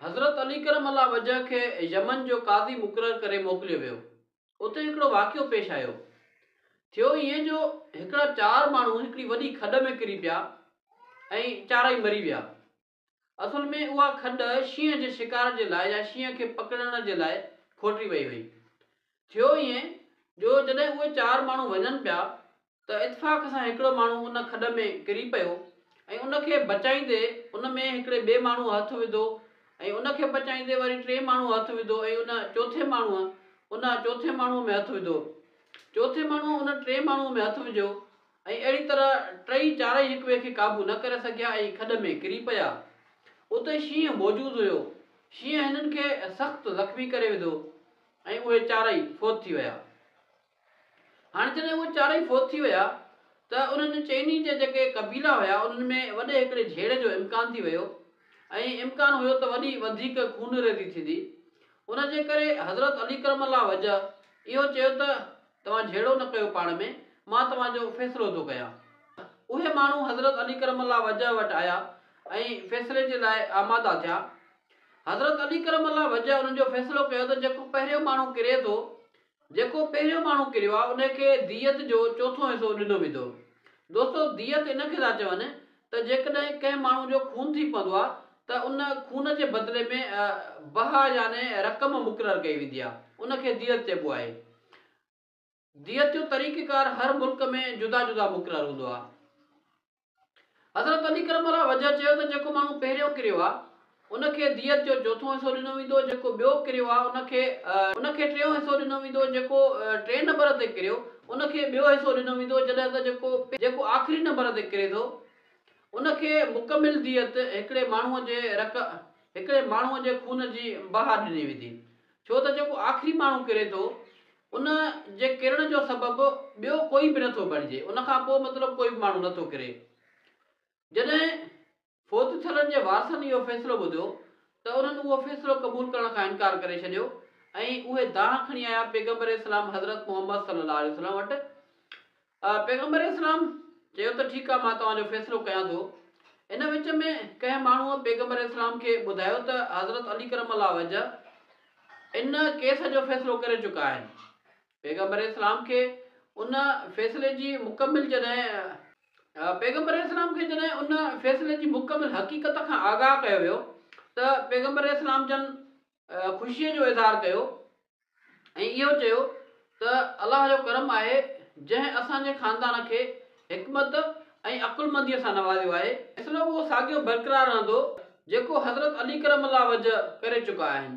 حضرت علي ڪرم الله وجهه کي يمن جو قاضي مقرر ڪري موڪليو ويو. اتي هڪڙو واقعو پيش آيو. ٿيو ائين جو هڪڙا چار ماڻهو هڪڙي وڏي کڏ ۾ ڪري پيا ۽ چارئي مري ويا. اصل ۾ اها کڏ شينهن جي شڪار جي لاء يا شينهن کي پڪڙڻ جي لاء کوٽي وئي هئي. ٿيو ائين جو جڏهن اهي چار ماڻهو وڃن پيا ته اتفاق سان هڪڙو ماڻهو ان کڏ ۾ ڪري پيو ۽ ان کي بچائيندي ان ۾ هڪڙي ٻئي ماڻهوء هٿ وڌو ۽ ان کي بچائيندي وري ٽئين ماڻهوء هٿ وڌو ۽ ان چوٿين ماڻهوء ان چوٿين ماڻهوء ۾ هٿ وڌو چوٿين ماڻهوء ان ٽئين ماڻهوء ۾ هٿ وجهيو ۽ اهڙي طرح ٽئي چارئي هڪ ٻئي کي قابو نه ڪري سگهيا ۽ کڏ ۾ ڪري پيا اتي شينهن موجود هيو شينهن هنن کي سخت زخمي ڪري وڌو ۽ اهي چارئي فوت ٿي ويا. هاڻي جڏهن اهي چارئي فوت ٿي ويا ته انهن چئني جا جيڪي قبيلا هيا انهن ۾ وڏي هڪڙي جهيڙي جو امڪان ٿي ويو ۽ امڪان هيو ته وڏي وڌيڪ خونريزي ٿيندي ان جي ڪري حضرت علي ڪرم الله وجهه اهو چيو ته توهان جهيڙو نه ڪيو پاڻ ۾ مان توهان جو فيصلو ٿو ڪيان. اهي ماڻهو حضرت علي ڪرم الله وجهه وٽ آيا ۽ فيصلي جي لاء آماده ٿيا. حضرت علي ڪرم الله وجهه انهن جو فيصلو ڪيو ته جيڪو پهريون ماڻهو ڪري ٿو جيڪو پهريون ماڻهو ڪريو آ ان کي ديت جو چوٿون حصو ڏنو ويندو. دوستو ديت ان کي ٿا چون ته جيڪڏهن ڪنهن ماڻهو جو خون ٿي پوندو آ ته ان خون جي بدلي ۾ بها يعني رقم مقرر ڪئي ويندي آ ان کي ديت چئبو آهي. ديت جو طريقه ڪار هر ملڪ ۾ جدا جدا مقرر هوندو آ. حضرت علي ڪرم الله وجهه چيو ته جيڪو ماڻهو پهريون ڪريو آهي ان کي ديت جو چوٿون حصو ڏنو ويندو، جيڪو ٻيو ڪريو آهي ان کي ان کي ٽيون حصو ڏنو ويندو، جيڪو ٽئين نمبر تي ڪريو ان کي ٻيو حصو ڏنو ويندو جڏهن ته جيڪو جيڪو آخري نمبر تي ڪري ٿو ان کي مڪمل ديت هڪڙي ماڻهو جي رق هڪڙي ماڻهو جي خون جي بها ڏني ويندي ڇو ته جيڪو آخري ماڻهو ڪري ٿو ان جي ڪرڻ جو سبب ٻيو ڪوئي به نٿو بڻجي ان کان پوء مطلب ڪوئي به ماڻهو نٿو ڪري. جڏهن فوت ٿيلن جي وارثن اهو فيصلو ٻڌو ته انهن اهو فيصلو قبول ڪرڻ کان انڪار ڪري ڇڏيو ۽ اهي دانهن کڻي آيا پيغمبر اسلام حضرت محمد صلي الله عليه وسلم وٽ پيغمبر اسلام چيو ته ٺيڪ آ مان توهان جو فيصلو ڪيان ٿو. ان وچ ۾ ڪنهن ماڻهوء پيغمبر اسلام کي ٻڌايو ته حضرت علي ڪرم الله وجه ان ڪيس جو فيصلو ڪري چڪا آهن. پيغمبر اسلام کي ان فيصلي جي مڪمل جڏهن پيغمبر اسلام کي جڏهن ان فيصلي جي مڪمل حقيقت کان آگاهه ڪيو ويو ته پيغمبر اسلام جن خوشيء جو اظهار ڪيو ۽ اهو چيو ته الله جو ڪرم آهي جنهن اسان جي خاندان کي حڪمت ۽ عقلمنديء سان نوازيو آهي. فيصلو اهو ساڳيو برقرار رهندو جيڪو حضرت علي ڪرم الله وجهه ڪري چڪا آهن.